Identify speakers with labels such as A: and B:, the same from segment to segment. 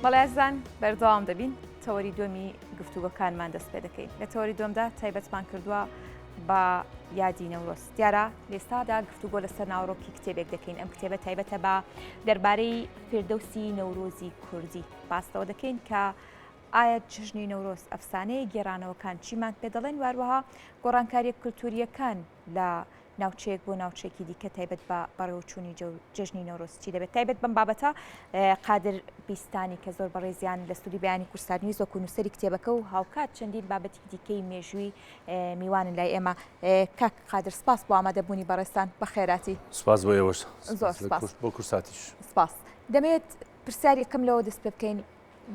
A: بەڵێزان بەردەوام دەبین تەوەری دومی گفتوگەکانمان دەست پێ دەکەین لە تەوەری دومدا تایبەتمان کردووە بە یادی نەورۆز دیارە لێستادا گفتوگۆ لەسەر ناوڕۆکی کتێبێک دەکەین ئەم کتێبە تایبەتە بە دەربارەی فردەوسی نەورۆزی کوردی باستەوە دەکەین کە ئایا جژنی نەورۆز ئەفسانەیە گێرانەوەکان چیمان پێ دەڵێن واروەها گۆڕانکاریە کولتوریەکان لە ناوچەیەک بۆ ناوچەیەکی دیکە تایبەت بە بەڕێوەچوونی جەژنی نەورۆز چی دەبێت تایبەت بەم بابەتە قادر بیستانی کە زۆر بەڕێزیان لە سوودی بیانی کورسارنی زۆک و نووسری کتێبەکە و هاوکات چەندین بابەتی دیکەی مێژووی میوانن لای ئێمە کاک قادر سپاس بۆ ئامادەبوونی بەڕێستان بە خێراتی سپاس بۆ ئێوەش
B: زۆر بۆ
A: کورساتیش
B: سپاس
A: دەمێت پرسیاری کەم لەوە دەست پێ بکەین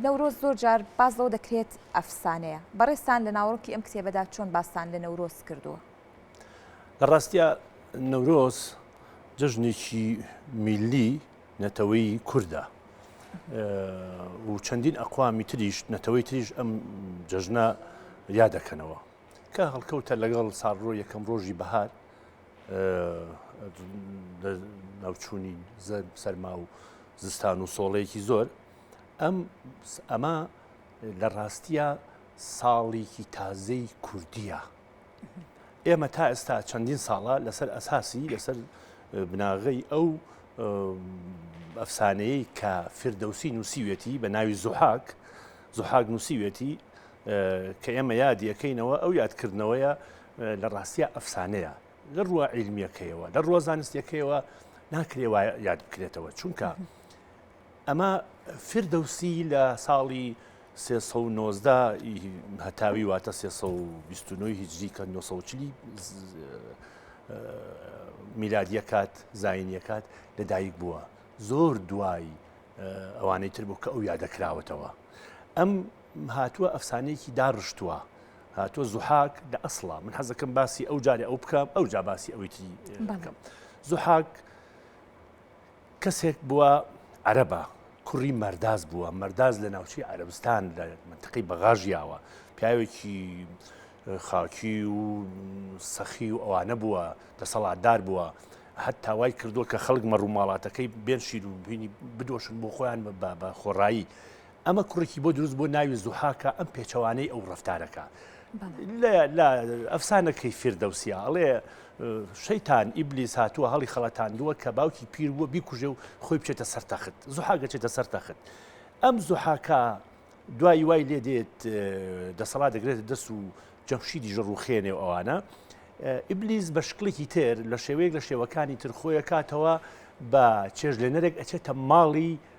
A: نەورۆز زۆر جار باس لەوە دەکرێت ئەفسانەیە، بەڕێزتان لە ناوەڕۆکی ئەم کتێبەدا چۆن باستان لە نەورۆز کردووە؟ لە
B: ڕاستیا نەورۆز جەژنێکی میلی نەتەوەی کوردە و چەندین ئەقوامی تریش نەتەوەی تریش ئەم جەژنە یا دەکەنەوە کە هەڵکەوتە لەگەڵ ساڕۆ یەکەم ڕۆژی بەهار ناوچوونی سەرما و زستان و سۆڵەیەکی زۆر ئەم ئەمە لە ڕاستیە ساڵێکی تازەی کوردیە ئێمە تا ئێستا چەندین ساڵە لەسەر ئەساسی لەسەر بناغەی ئەو ئەفسانەیە کە فردەوسی نووسیوێتی بە ناوی زوحاک زوحاک نووسیوێتی کە ئێمە یادیەکەینەوە ئەو یادکردنەوەیە لە ڕاستیە ئەفسانەیە لە ڕووە عیلمیەکەیەوە لە ڕۆزانستیەکەیەوە ناکرێ وایە یاد بکرێتەوە چونکە ئەمە فیردەوسی لە ساڵی سێ سەد و نۆزدە ی هەتاوی واتە سێ سەد و بیست و نۆ ی هیجری کە نۆ سەد و چل ی میلادی ئەکات زایینی ئەکات لەدایک بووە زۆر دوای ئەوانەی تر بوو کە ئەو یادەکراوەتەوە ئەم هاتووە ئەفسانەیەکی داڕشتووە هاتووە زوحاک لە ئەسڵا من حەزەکەم باسی ئەو جارێ ئەو بکەم ئەو جا باسی ئەوی تری بکەم زوحاک کەسێک بووە عەرەبە کوڕی مەرداز بووە مەرداز لە ناوچی عەربستان لە منتقی بەغاژیاوە پیاوێکی خاکی و سەخی و ئەوانە بووە دەسەڵاتدار بووە هەت تاوای کردووە کە خەڵک مەڕووماڵاتەکەی بێن شیر و بینی بدۆشن بۆ خۆیان بە بە خۆڕایی ئەمە کوڕێکی بۆ دروست بۆ ناوی زوحاکە ئەم پێچەوانەی ئەو ڕفتارەکە لە ئەفسانەکەی فردەوسیا ئەڵێ شەیتان ئیبلی ساتووە هەڵی خەڵەتاندووە کە باوکی پیر بووە بیکوژێ و خۆی بچێتە سەرتەخت زوحاگە چێتە سەرتەخت ئەم زوحاکە دوای وای لێ دێت دەسەڵات دەگرێت دەست و جەمشی دیژە ڕوخێنێ و ئەوانە ئیبلیس بە شکلێکی تر لە شێوەیەک لە شێوەکانی ترخۆیە کاتەوە بە چێژ لێنەرێک ئەچێتە ماڵی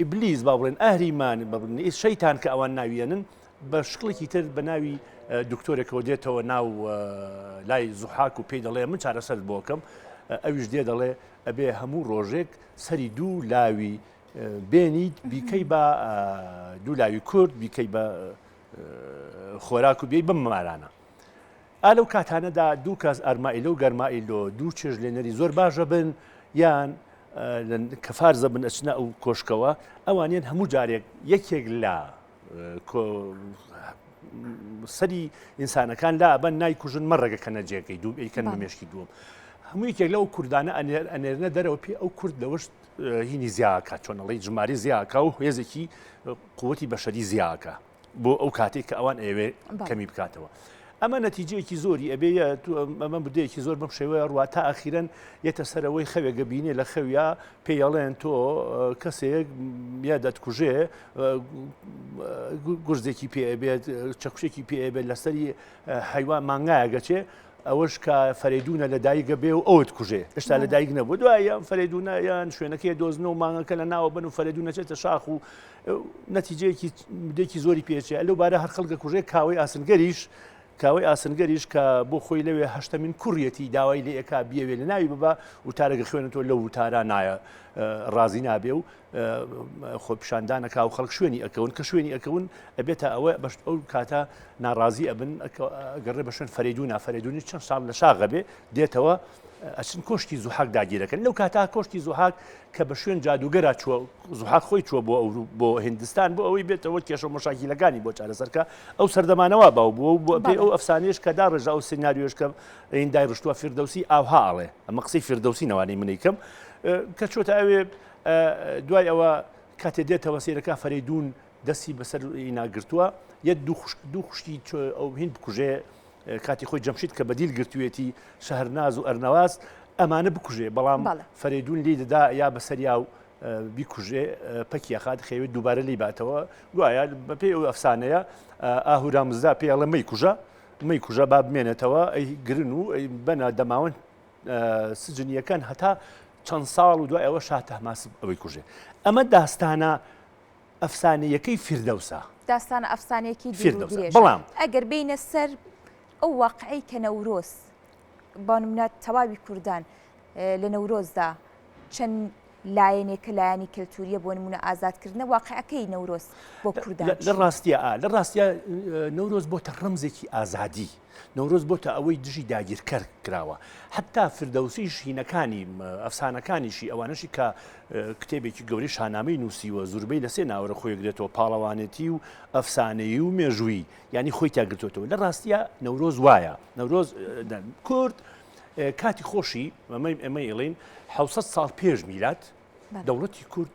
B: ئیبلیس، با بڵێن ئەهریمان، با بڵێن شەیتان کە ئەوان ناویەنن، بە شکڵێکی تر بە ناوی دکتۆرێکەوە دێتەوە ناو لای زوحاک و پێی دەڵێ من چارەسەرت بۆکەم ئەویش دێ دەڵێ ئەبێ هەموو ڕۆژێک سەری دوو لاوی بێنیت بیکەی بە دوو لاوی کورد بیکەی بە خۆراک و بێی بم مارانە ئا لەو کاتانەدا دوو کەس ئەرمائیلۆ و گەرمائیلۆ دوو چێژ لێنەری زۆر باش ئەبن یان کە فارز ئەبن ئەچنە ئەو کۆشکەوە ئەوانیان هەموو جارێک یەکێک لە سەری ئینسانەکان لا ئەبەن نایکوژن مەڕێگەکەنە جێگەی دوو ئەیکەن بە مێشکی دووەم. هەموو یەکێک لەو کوردانە ئەنێر ئەنێرنە دەرەوە پێ ئەو کورد لەوەشت هینی زیاکە چۆنەڵی ژماری زیاکە و هێزێکی قوتی بەشەری زیاکە بۆ ئەو کاتێک کە ئەوان ئەوێ کەمی بکاتەوە. ئەمە نەتیجەیەکی زۆری ئەبێ ئەمە بدەیەکی زۆر بەم شێوەیە ڕوا تا ئاخیرەن یەتە سەرەوەی خەوێگە بینێ لە خەویا پێڵێن تۆ کەسێک یا دەتکوژێ گورزێکی پێبێت چەکشێکی پێبێت لەسەری حیوان مانگایەگەچێ ئەوەش کە فەرێدونە لە دایکگە بێ و ئەوت کوژێ ئێستا لە دایک نەبوو دوایە فەرێدونایان شوێنەکەی دۆزن و مانگەکە لە ناوە بن و فەرێدونەچێتە شاخ و نەتیجەیەکی دێکی زۆری پێچێ لەو بارە هەر خەڵگە کوژێ کاوەی ئاسنگەریش کاوەی ئاسنگەریش کە بۆ خۆی لەوێ هەشتمین کوڕیەتی داوای لە ئێکا بیاوێ لە ناوی ببە وتارەگە خوێنێتەوە لە وتارا نایە ڕازی نابێ و خۆ پیشاندانەکە و خەڵک شوێنی ئەکەون کە شوێنی ئەکەون ئەبێتە ئەوە بەشت ئەو کاتە ناڕازی ئەبن گەڕێ بە شوێن فەرێدونا فەرێدونی چەند ساڵ لە شاغەبێ دێتەوە ئەچن کۆشکی زوحاک داگیرەکەن لەو کاتا کۆشکی زوحاک کە بە شوێن جادوگەرا چوە زوحاک خۆی چوە بۆ ئەورو بۆ هندستان بۆ ئەوەی بێتەوە کێشە مشاکیلەکانی بۆ چارەسەرکە ئەو سەردەمانەوە باو بووە و بۆ پێ ئەو ئەفسانێش کە دا ڕێژا ئەو سناریۆش کە ئیندای ڕشتووە فردەوسی ئاوها ئاڵێ ئەمە قسەی فردەوسی نەوانی منی کەم کە چۆتە ئەوێ دوای ئەوە کاتێ دێتەوە سیرەکە فەریدون دەستی بەسەر ئینا گرتووە یە دوو خوشک دوو خوشکی ئەو هین بکوژێ کاتی خۆی جەمشید کە بەدیل گرتوێتی شەهرناز و ئەرنەواز ئەمانە بکوژێ بەڵام فەرێدون لی دەدا یا بەسەریا و بیکوژێ پەکیەخات خەوێت دووبارە لی باتەوە گوایە بەپێ ئەو ئەفسانەیە ئاهورا مزدا پێڵە مەی کوژە مەی کوژە با بمێنێتەوە ئەی گرن و ئەی بەنا دەماون سجنیەکان هەتا چەند ساڵ و دوای ئەوە شاتەماس ئەوەی کوژێ ئەمە داستانە ئەفسانەیەکەی فیردەوسە. داستانە ئەفسانەیەکی
A: دوور و درێژە. بەڵام
B: ئەگەر بێینە سەر
A: ئەو واقعەی کە نەورۆز بە نمونە تەواوی کوردان لە نەورۆزدا چەند لایەنێکە لایەنی کەلتوریە بۆ نمونە ئازادکردنە واقعەکەی نەورۆز بۆ کوردان لە ڕاستیە لە
B: ڕاستە نەورۆز بۆتە ڕەمزێکی ئازادی نەورۆز بۆتە ئەوەی دژی داگیرکەر کراوە حتا فردەوسی ژینەکانی ئەفسانەکانیشی ئەوانشی کە کتێبێکی گەوری شانامەی نووسیوە زوربەی لە سێ ناوەرە خۆیگرێتەوە پاڵەوانێتی و ئەفسانەیی و مێژووی ینی خۆی تاگرتوتەوە لە ڕاستە نەورۆز وایە نەورۆز کورد کاتی خۆشی ئەمەی ئەمە ئڵین 600 ساڵ پێش میلات دەوڵەتی کورد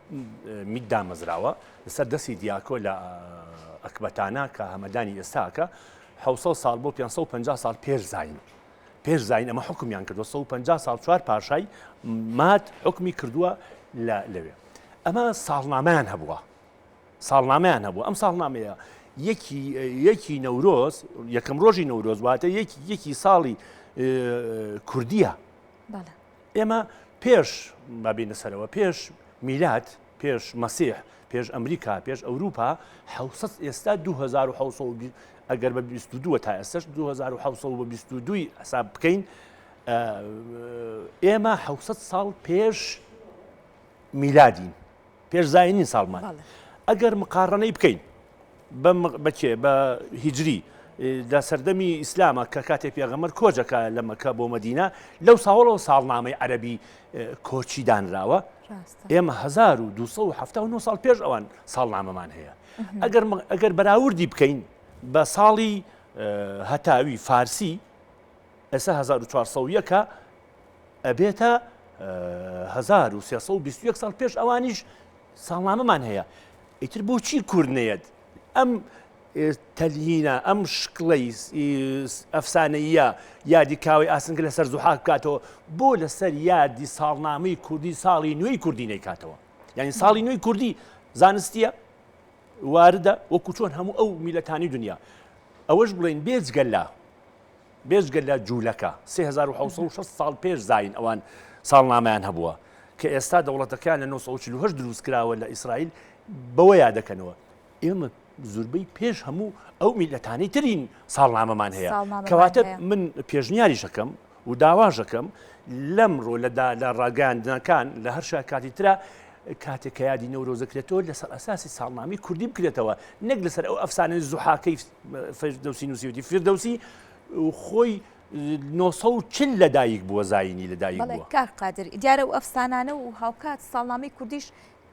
B: میت دامەزراوە لەسەر دەستی دیاکۆ لە ئەکبەتانە کە هەمەدانی ئێستاکە 600 سال بۆ 550 سال پێش زین پێش زین ئەمە حکومیان کردو 150 سال چوار پاشای مات حکمی کردووە لە لەوێ ئەمە ساڵنامەیان هەبووە ساڵنامەیان هەبوو ئەم ساڵنامەیە یەکی یەکی نەورۆز یەکەم ڕۆژی نەورۆز واتە یەکی یەکی ساڵی کوردیە ئێمە پێش، با بێینە سەرەوە، پێش میلاد، پێش مەسیح، پێش ئەمریکا، پێش ئەوروپا، حەوت سەد، ئێستا دوو هەزار و حەوت سەد و بیست، ئەگەر بە بیست و دووە تا ئێستەش دوو هەزار و حەوت سەد و بیست و دووی حساب بکەین، ئێمە حەوت سەد ساڵ پێش میلادین. پێش زاین نین ساڵمان ئەگەر مقاڕنەی بکەین بە کێ بە هیجری دا سەردەمی ئیسلامە کە کاتێ پێغەمەر کۆجەکە لە مەکە بۆ مەدینە لەو ساوەڵەوە ساڵنامەی عەربی کۆچی دانراوە ئێمە 1970 ساڵ پێش ئەوان ساڵنامەمان هەیە ئەگەر ئەگەر بەراوردی بکەین بە ساڵی هەتاوی فارسی ئێستا 1940ەکە ئەبێتە هەزار و سێ سەد و بیست و یەک ساڵ پێش ئەوانیش ساڵنامەمان هەیە ئیتر بۆچی کورد نەیەت ئەم تەلهینە ئەم شکڵی ئەفسانەیە یادی کاوەی ئاسنگە لەسەر زوحاک بکاتەوە بۆ لەسەر یادی ساڵنامەی کوردی ساڵی نوێی کوردی نەیکاتەوە یعنی ساڵی نوێی کوردی زانستیە واردە وەکو چۆن هەموو ئەو میلەتانی دنیا ئەوەش بڵێن بێجگەللا بێجگە لە جوولەکە سێ هەزار و حەوت سەد و شەست ساڵ پێش زایین ئەوان ساڵنامەیان هەبووە کە ئێستا دەوڵەتەکەیان لە نۆ سەد و چل و هەشت دروست کراوە لە ئیسرائیل بەوە یادەکەنەوە ئێمە زوربەی پێش هەموو ئەو میلەتانی ترین ساڵنامەمان هەیە کەواتە من پێشنیاریشەکەم و داواژەکەم لەمڕۆ لەدا لە ڕاگەاندنەکان لە هەر شاکاتی تررا کاتێک کە یادی نەورۆزەکرێتەوە لەسەر ئەساسی ساڵنامی کوردی بکرێتەوە نەک لەسەر ئەو ئەفسانەی زوحاکەی فردوسی نووسیوتی فردوسی خۆی 940 لەدایک بووە زایینی لەدایک کار قادر دیارە و
A: ئەفسانانە و هاوکات ساڵنامەی کوردیش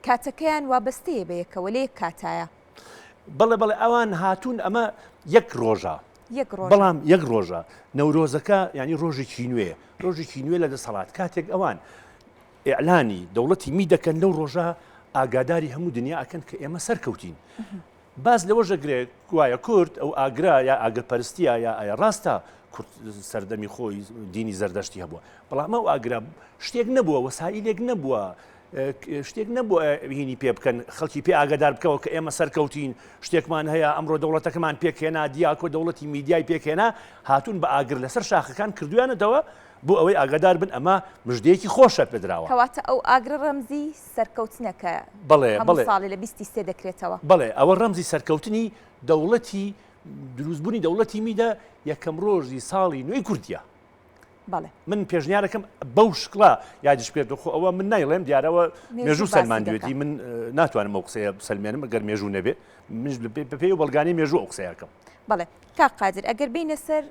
A: کاتەکەیان وابەستەیە بە یەکەوە لە یەک کاتایە بەڵێ
B: بەڵێ ئەوان هاتوون ئەمە یەک ڕۆژە بەڵام یەک ڕۆژە نەورۆزەکە ینی ڕۆژێکی نوێ ڕۆژێکی نوێ لە دەسەڵات کاتێک ئەوان ئەعلانی دەوڵەتی می دەکەن لەو ڕۆژە ئاگاداری هەموو دنیا ئەکەن کە ئێمە سەرکەوتین باس لەوەش دەکرێت گوایە کورد ئەو ئاگرە یا ئاگرپەرستییە یا ئایا ڕاستە کورد سەردەمی خۆی دینی زەردەشتی هەبووە بەڵام ئەو ئاگرە شتێک نەبووە وەسائلێک نەبووە شتێک نەبووە هینی پێ بکەن خەڵکی پێ ئاگادار بکەوە کە ئێمە سەرکەوتین شتێکمان هەیە ئەمڕۆ دەوڵەتەکەمان پێکهێنا دیاکۆ دەوڵەتی میدیای پێکهێنا هاتون بە ئاگر لەسەر شاخەکان کردویانەتەوە بۆ ئەوەی ئاگادار بن ئەمە مژدەیەکی خۆشە پێدراوە کەواتە ئەو ئاگرە
A: ڕەمزی سەرکەوتنە کە بەڵێ
B: هەموو بەڵێ
A: ساڵێ لە بیست
B: ی سێ دەکرێتەوە.
A: بەڵێ
B: ئەوە ڕەمزی
A: سەرکەوتنی دەوڵەتی
B: دروست بوونی دەوڵەتی میدە یەکەم ڕۆژی ساڵی نوێی کوردیە. بەڵێ.
A: من پێشنیارەکەم
B: بەو شکڵە یادیش بێت دۆخۆ ئەوە من نایڵێم دیارەوە مێژوو مێژوو باسی دەکا. سەلماندوێتی من ناتوانم ئەو قسەیە بسەلمێنم ئەگەر مێژوو نەبێ منیش لە پێ بەپێی و بەڵگانەی مێژوو ئەو قسەیە ئەکەم. بەڵێ کاک
A: قادر ئەگەر بێینە سەر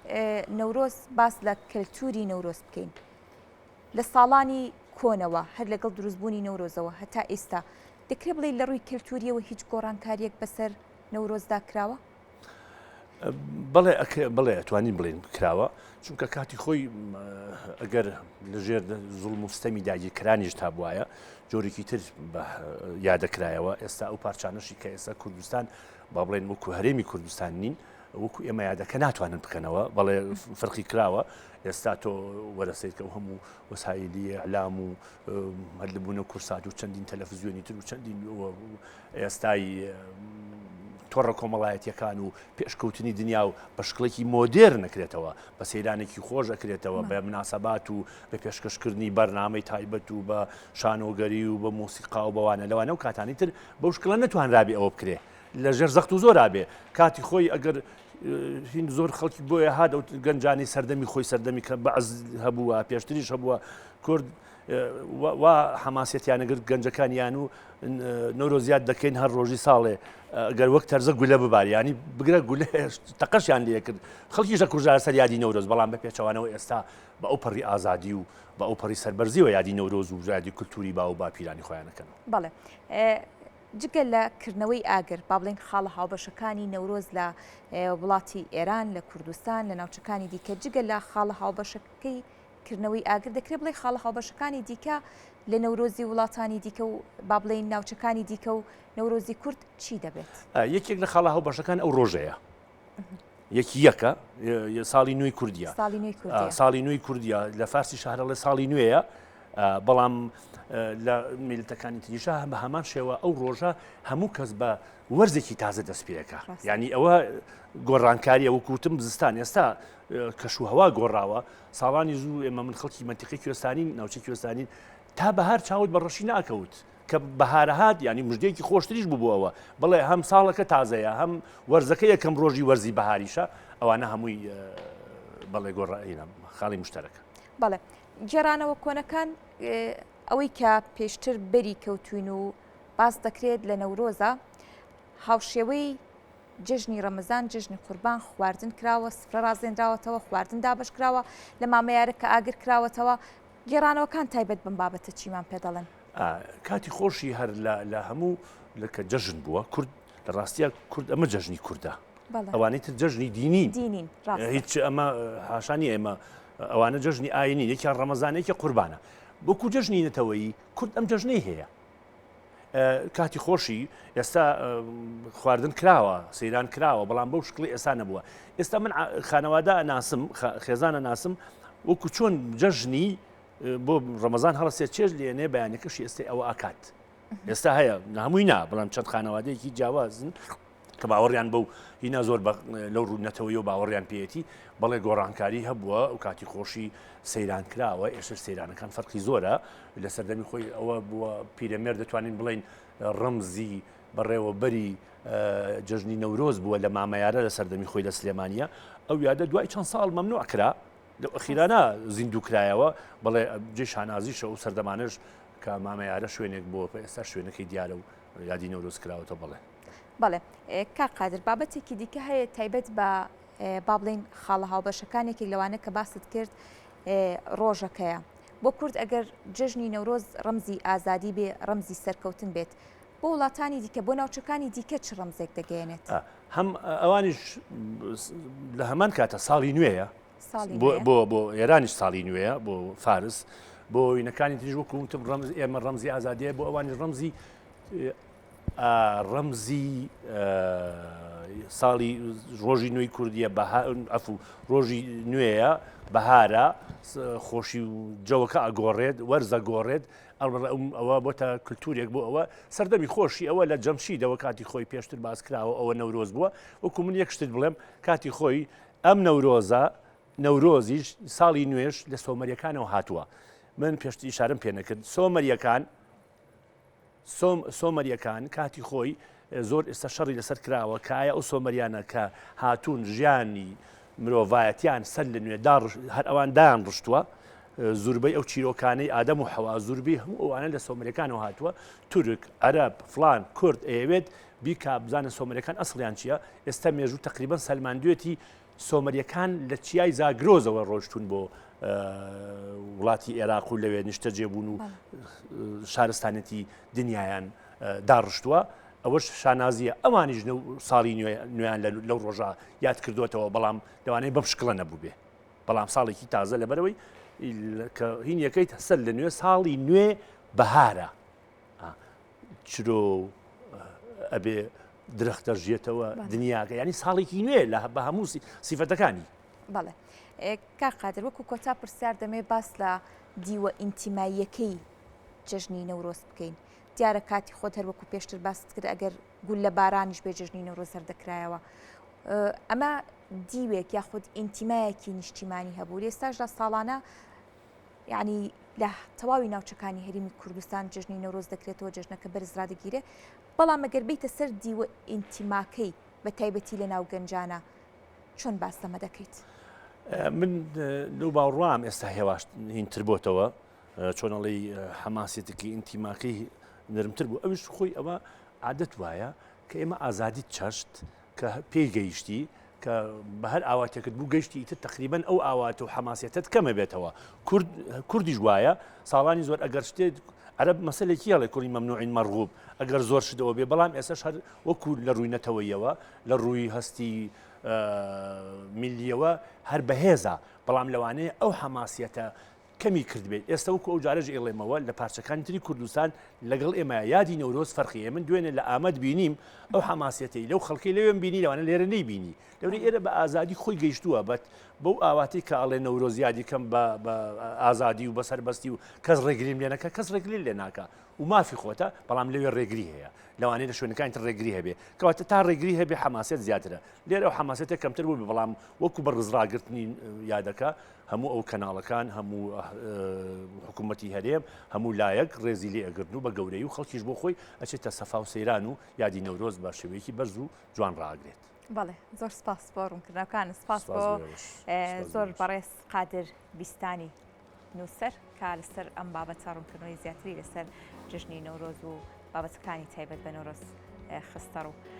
A: اه، نەورۆز باس لە کەلتوری نەورۆز بکەین. لە ساڵانی کۆنەوە هەر لەگەڵ دروستبوونی نەورۆزەوە هەتا ئیستا دەکرێ بڵێی لە ڕووی کەلتووریەوە هیچ گۆڕانکاریەک بەسەر نەورۆزدا کراوە؟
B: بەڵێ بڵێ ئەتوانین بڵێن کراوە چونکە کاتی خۆی ئەگەر لەژێر زوڵ مستەمی داگیرکرانیش تا بواە جۆرێکی تر یادەکرایەوە ئێستا ئەو پارچانەشی کە ئێستا کوردستان با بڵێن وەکو هەرێمی کوردستان نین وەکو ئێمە یادەکە ناتوانن بکەنەوە بەڵێ فرقی کراوە ئێستا تۆ وەرەسێکە و هەموو وەسایلی ئەلام و هەلبوون و کورسات و چەندین تەلەفزیۆنی تر و چەندین ئێستای تۆڕە کۆمەڵایەتیەکان و پێشکەوتنی دنیا و بە شکڵێکی مۆدێر نەکرێتەوە بە سەیرانێکی خۆش ئەکرێتەوە بە مناسەبات و بە پێشکەشکردنی بەرنامەی تایبەت و بە شانۆگەری و بە مۆسیقا و بەوانە لەوانە و کاتانی تر بەو شکڵە نەتوانرابێ ئەوە بکرێت لە ژێر زەخت و زۆرا بێ کاتی خۆی ئەگەر هین زۆر خەڵکی بۆیە هاات ئەو گەنجانی سەردەمی خۆی سەردەمی کە بەعز هەبووە پێشتریش هەبووە کورد وا حەماسەتیانەگرت گەنجەکانیان و نۆرۆزیات دەکەین هەر ڕۆژی ساڵێ گەر وەک تەرزە گولە بباریانی بگرە گولە تەقەشیان لە کرد خەڵکی ژە کوژار سەر یادی نەورۆز بەڵام بە پێچەوانەوە ئێستا بە ئەو پەڕی ئازادی و بە ئەو پەڕی سەربەرزیەوە یادی نەورۆز و ژادی کولتوری باو و باپیرانی خۆیانەکەن بەڵێ
A: جگە لە کردنەوەی ئاگر، با بڵێین خاڵە هاوبەشەکانی نەورۆز لە وڵاتی ئێران، لە کوردستان، لە ناوچەکانی دیکە، جگە لە خاڵە هاوبەشەکەی کردنەوەی ئاگر دەکرێت بڵێ خاڵە هاوبەشەکانی دیکە لە نەورۆزی وڵاتانی دیکە و با بڵێین ناوچەکانی دیکە و نەورۆزی کورد چی دەبێت؟ یەکێک لە خاڵە
B: هاوبەشەکان ئەو ڕۆژەیە. یەکی یەکە ساڵی نوێی کوردیا ساڵی نوێی کوردیا لە فارسی شارەڵێ ساڵی نوێیە بەڵام لە میلتەکانی تریشە هەم بە هەمان شێوە ئەو ڕۆژە هەموو کەس بە وەرزێکی تازە دەستپێەکە ینی ئەوە گۆڕانکاری ئەوە کوتم زستان ئێستا کەش و هەوا گۆڕاوە ساڵانی زوو ئێمە من خەڵکی منتیقی کوێستانی ناوچە کوێستانین تا بەهار چاوت بە ڕەشی ناکەوت کە بەهارە هات یانی مژدێکی خۆشتریش بوو ئەوە بڵێ هەم ساڵەکە تازەیە هەم وەرزەکە یەکەم ڕۆژی وەرزی بەهاریشە ئەوانە هەمووی بەڵێ گۆڕائینە خاڵی مشتەرەکە بەڵێ
A: گێرانەوە کۆنەکان ئەوەی کە پێشتر بەری کەوتوین و باس دەکرێت لە نەورۆزە هاوشێوەی جژنی ڕەمەزان جژنی قوربان خواردن کراوە سفرە ڕازێنراوەتەوە خواردن دابش کراوە لە مامەیارە کە ئاگر کراوەتەوە گێڕانەوەکان تایبەت بم بابەتە چیمان پێ دەڵێن کاتی خۆشی
B: هەر لە هەموو لەکە جەژن بووە کورد لە ڕاستە کورد ئەمە جەژنی کووردە ئەوانەی تر جەژنی دینی دینین هیچ ئەمە هاشانی ئێمە ئەوانە جەژنی ئاینی یەکیان ڕەمەزانێکی قوربانە بۆکو جەژنی نەتەوەی کورد ئەم جەژنەی هەیە کاتی خۆشی ئێستا خواردن کراوە سەیران کراوە بەڵام بەو شکڵی ئێستا نەبووە ئێستا من خانەوادا ناسم خێزانە ناسم وەکو چۆن جەژنی بۆ ڕەمەزان هەڵسێ چێژ لێنێ بەیانەکەشی ئێستا ئەوە ئاکات ئێستا هەیە هەمووی نا بەڵام چەند خانەوادەیەکی جیاوازن کە باوەڕیان بەو هینا زۆر لەو ڕوونەتەوەی و باوەڕیان پێێتی بەڵێ گۆڕانکاری هەبووە و کاتی خۆشی سەیران کراوە ئێشە سەیرانەکان فەرقی زۆرە لە سەردەمی خۆی ئەوە بووە پیرەمێر دەتوانین بڵین ڕمزی بەڕێوەبەری جژنی نەورۆز بووە لە مامەیارە لە سەردەمی خۆی لە سلێمانە ئەو یادە دوای چەند ساڵ مەمنوع کرا لەو ئەخیرانە زیندوو کرایەوە بڵێ جێ شانازیشە و سەردەمانش کە مامەیارە شوێنێک بۆ ئێستا شوێنەکەی دیارە و یادی نەورۆز کراوەتە بڵێ بڵێ
A: کا قادر بابەتێکی دیکە هەیە تایبەت بە با بڵین خاڵە هاوبەشەکانێکی لەوانە کە باست کرد ڕۆژەکەیە بۆ کورد ئەگەر جژنی نەورۆز ڕەمزی ئازادی بێ ڕەمزی سەرکەوتن بێت بۆ وڵاتانی دیکە بۆ ناوچەکانی دیکە چ ڕەمزێک دەگەیەنێت؟ هەم
B: ئەوانیش لە هەمان کاتە ساڵی نوێیە بۆ بۆ ئێرانیش ساڵی نوێیە بۆ فارس بۆ وینەکانی تریژ وەکوتم ڕەمز ئێمە ڕەمزی ئازادیە بۆ ئەوانی ڕەمزی ڕەمزی ساڵی ڕۆژی نوێی کوردیە ئەف و ڕۆژی نوێیە بەهارە خۆشی و جەوەکە ئەگۆڕێت وەرزە گۆڕێت ئەڵڕم ئەوە بۆتە کللتورێک بۆ ئەوە سەردەمی خۆشی ئەوە لە جەمشیدەوە کاتی خۆی پێشتر باسکراوە ئەوە نەورۆز بووە وەکو من یەک شتت بڵێم کاتی خۆی ئەم نەورۆزە نەورۆزیش ساڵی نوێش لە سۆمەریەکانەوە هاتووە من پێشتی ئشارم پێ نەکرد سۆمەریەکان سۆم سۆمەریەکان کاتی خۆی زۆر ئێستا شەڕی لەسەر کراوە کە ئایا ئەو سۆمەریانە کە هاتوون ژیانی مرۆڤایەتیان سەر لە نوێ داڕ هەر ئەوان دایان ڕشتووە زوربەی ئەو چیرۆکانەی ئادەم و حەوا زوربی هەموو ئەوانە لە سۆمرەکانەوە هاتووە تورک عەرب فلان کورد ئەیەوێت بیکا بزانە سۆمرەکان ئەسڵیان چییە ئێستا مێژوو تقریبان سەلماندوێتی سۆمەریەکان لە چیای زاگرۆزەوە ڕۆشتون بۆ وڵاتی ئێراق و لەوێ نیشتە جێبوون و شارستانەتی دنیایان داڕشتووە ئەوەش شانازیە ئەوانیش ساڵی نوێیان لەو ڕۆژە یاد کردوێتەوە بەڵام لەوانەیە بەم شکڵە نەبوو بێ بەڵام ساڵێکی تازە لەبەرەوەی کە هین یەکەیت هەسەر لە نوێ ساڵی نوێ بەهارە چرۆ و ئەبێ درەخت دەژێتەوە دنیاگە ینی ساڵێکی نوێ لە بە هەموو سیفەتەکانی بەڵێ
A: کار قادر وەکو کۆتا پرسیار دەمێ باس لە دیوە ئینتیماییەکەی جژنی نەورۆز بکەین دیارە کاتی خۆت هەر وەکو پێشتر باست کرد ئەگەر گول لە بارانیش بێ جژنی نەورۆز هەر دەکرایەوە ئەمە دیوێک یاخود ئینتیمایەکی نیشتیمانی هەبوو ئێستاشدا ساڵانە یانی لە تەواوی ناوچەکانی هەرمی کوردستان جژنی نەورۆز دەکرێتەوە جژنەکە بەرز ڕادەگیرێ بەڵام مەگەر بیتە سەر دیوە ئینتیماکەی بە تایبەتی لە ناو گەنجانە چۆن باس لەمە دەکەیت من
B: لەو باوڕام ئێستا هێواش هینتر بۆتەوە چۆنەڵی حەماسێتەکەی ئینتیماکەی نرمتر بوو ئەوش خۆی ئەوە عادەت وایە کە ئێمە ئازادی چەشت کە پێی گەیشتی کە بە هەر ئاواتێکت بوو گەشتی ئیتر تقریبن ئەو ئاوات و حەماسیەتت کەمە بێتەوە کورد کوردیش وایە ساڵانی زۆر ئەگەر شتێت عرب مەسلێکی هەڵێ کوڕی مەمنوعین مەرغوب ئەگەر زۆر شتەوە بێ بەڵام ئێسش هەر وەکو لە ڕووی نەتەوەیەوە لە ڕووی هەستی میلیەوە هەر بەهێزە بەڵام لەوانەیە ئەو حەماسیەتە کەمی کردبێت ئێستە وەکو ئەو جارەژ ئێڵێمەوە لە پارچەکانی تری کوردستان لەگەڵ ئێمە یادی نەورۆز فەرقیە من دوێنێ لە ئامەد بینیم ئەو حماسەتی لەو خەڵکی لەوێن بینی لەوانە لێرە نەی بینی لەوری ئێرە بە ئازادی خۆی گەیشتووە بەت بەو ئاواتی کە ئاڵێ نەورۆز یادیکەم بە ئازادی و بەسەر بەستی و کەس ڕێگریم لێنەکە کەس ڕێگری لێ ناکە و مافی خۆتە بەڵام لەوێ ڕێگری هەیە لەوانەیە لە شوێنەکانی تر ڕێگری هەبێ کەواتە تا ڕێگری هەبێ حماسەت زیاترە لێرە ئەو حماسەتە کەمتر بوو بەڵام وەکو بە ڕزڕاگرتنی یادەکە هەموو ئەو کەناڵەکان هەموو حکوومەتی هەرێم هەموو لایەک ڕێزی لێ ئەگرن و بە گەورەی و خەڵکیش بۆ خۆی ئەچێتە سەفا و سەیران و یادی نەورۆز بە شێوەیەکی بەرز و جوان ڕاگرێت. بەڵێ زۆر
A: سپاس بۆ ڕوونکردنەکان سپاس بۆ زۆر بەڕێز قادر بیستانی نووسەر کا لەسەر ئەم بابەتە ڕوونکردنەوەی زیاتری لەسەر جژنی نەورۆز و بابەتەکانی تایبەت بە نۆرۆز خستەڕوو.